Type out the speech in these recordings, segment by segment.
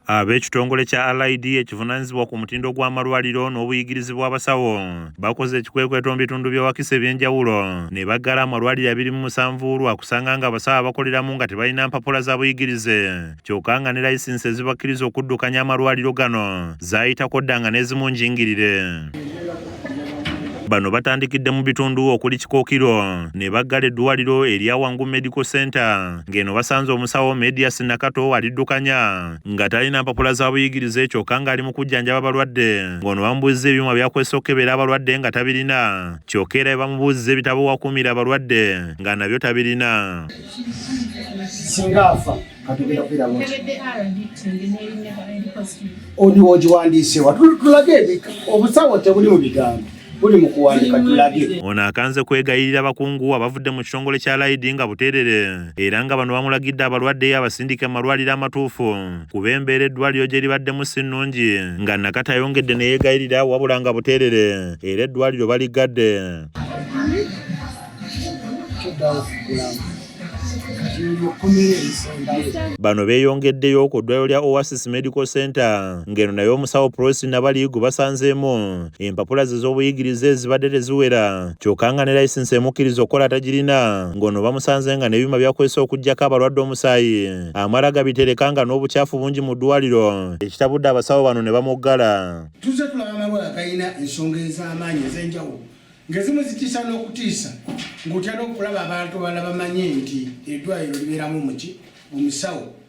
Ab'ekitongole kya RID ekivunanyizibwa ku mutindo gw'amalwaliro n'obuyigirizi bw'abasawo bakoze ekikwekweto mu bitundu bye Wakiso eby'enjawulo ne baggala amalwaliro abiri mu musanvu lwa kusanga nga abasawo abakoleramu nga tebalina mpapula za buyigirize kyokka nga ne layisinsi ezibakkiriza okuddukanya amalwaliro gano zaayitako dda nga n'ezimu njingirire. Bano batandikidde mu bitundu okuli Kikookiro ne baggala eddwaliro erya Wangu Medical Center ng'eno basanze omusawo Medias Nakato aliddukanya nga talina mpapula za buyigirize kyokka ng'ali mu kujjanjaba abalwadde ng'ono bamubuuzza ebyuma byakozesa okukebera abalwadde nga tabirina kyokka era bamubuuzza ebitabo wakuumira abalwadde nga nabyo tabirina singa afa katugenda kwiraba oli wogiwandiise wa tulage obusawo tebuli mu bigambo buli mu kuwandika tulage ono akanze kwegayirira bakungu abavudde mu kitongole kya laidi nga buteerere era nga bano bamulagidde abalwadde abasindike mu malwaliro amatuufu kuba embeera eddwaliro gye libaddemu si nnungi nga nakati ayongedde ne yeegayirira wabula nga buteerere era eddwaliro baliggadde Bano beeyongeddeyo ku ddwaliro lya Oasis Medical Center ng'eno naye omusawo Prossy Nabali gwe basanzeemu empapula ze z'obuyigirize ezibadde teziwera kyokka nga ne layisinsi emukkiriza okukola atagirina ng'ono bamusanze nga n'ebyuma byakozesa okuggyako abalwadde omusaayi amala gabitereka nga n'obukyafu bungi mu ddwaliro ekitabudde abasawo bano ne bamuggala. Tuzze tulaba amalwala galina ensonga ez'amaanyi ez'enjawulo ng'ezimu zitiisa n'okutiisa ng'otya n'okulaba abantu abalala bamanye nti eddwaliro libeeramu muki omusawo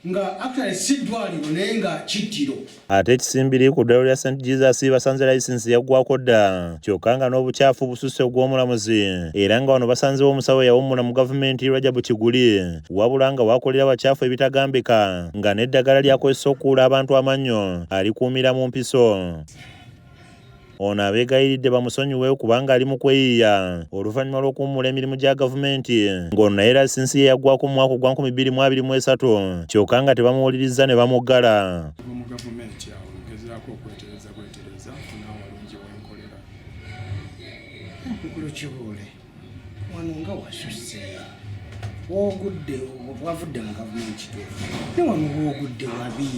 nga actually si ddwaliro naye nga kittiro ate ekisimbiri ku ddwaliro lya st jesus basanze layisinsi yaggwako dda kyokka nga n'obukyafu bususse ogw'omulamuzi era nga wano basanzewo omusawo eyawummula mu gavumenti rajabu kiguli wabula nga wakolera bakyafu ebitagambika nga n'eddagala lyakozesa okukuula abantu amannyo alikuumira mu mpiso Ono abeegayiridde bamusonyiwe kubanga ali mu kweyiiya oluvannyuma lw'okuwummula emirimu gya gavumenti ng'ono naye lasinsi ye yaggwako mu mwaka ogwa nkumi bbiri mu abiri mu esatu kyokka nga tebamuwulirizza ne bamuggala. wano nga wasusse wogudde wavudde mu gavumenti kituufu ne wano wogudde wabi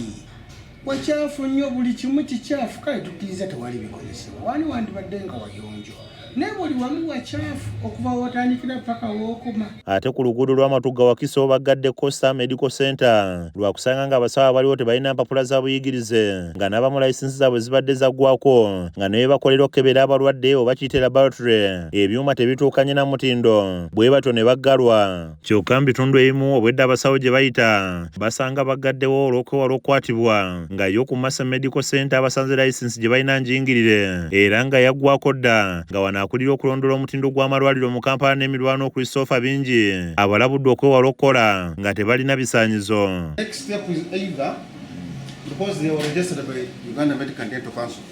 wakyafu nnyo buli kimu kikyafu kale tukkiriza tewali bikozesebwa wani wandibadde nga wayonjo naye buli wamu wakyafu okuva wotandikira paka wokoma ate ku luguudo lw'amatugga wakiso baggadde costa medical center lwakusanga nga abasawo abaliwo tebalina mpapula za buyigirize nga n'abamu layisinsi zaabwe zibadde zaggwako nga naye bakolera okukebera abalwadde oba kiyite laboratory ebyuma tebituukanye na mutindo bwe batyo ne baggalwa kyokka mu bitundu ebimu obwedda abasawo gye bayita basanga baggaddewo olw'okwewala okukwatibwa nga yo ku Masa Medical Center abasanze layisinsi gye balina njingirire era nga yaggwako dda nga wano akulira okulondoola omutindo gw'amalwaliro mu Kampala n'emirwano Christopher Bingi abalabudde okwewala okukola nga tebalina bisaanyizo because they were registered by Uganda Medical Dental Council.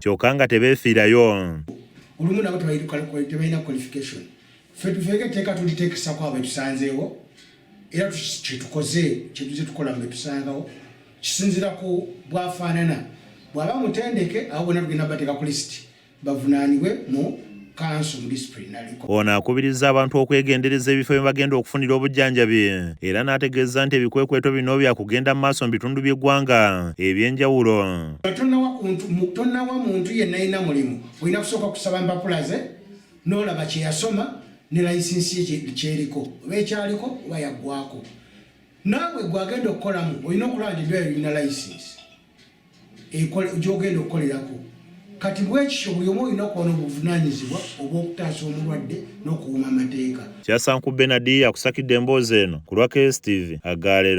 kyoka nga tebefiirayo. Olumu nabo tebalina qualification. Ffe tufeeko etteeka tuliteekesako abo betusanzeewo era kyetukoze kyetuze tukola mu betusangawo kisinzira ku bwafaanana bwaba mutendeke abo bona tugenda bateeka ku lisiti bavunaanibwe mu Ono akubiriza abantu okwegendereza ebifo bye bagenda okufunira obujjanjabi era n'ategeeza nti ebikwekweto bino byakugenda mu maaso mu bitundu by'eggwanga eby'enjawulo. Tonawa muntu yenna alina mulimu olina kusooka kusaba empapula ze n'olaba kye yasoma ne layisinsi ye kyeriko oba ekyaliko oba yaggwako. Naawe gwe agenda okukolamu olina okulaba nti eddwaliro lirina layisinsi. gyogenda okukolerako kati bwekityo buli omu olina okuba n'obuvunanyizibwa obw'okutaasa omulwadde n'okuwuma amateeka kyasanku benadi akusakidde emboozi eno ku lwa KSTV agaalero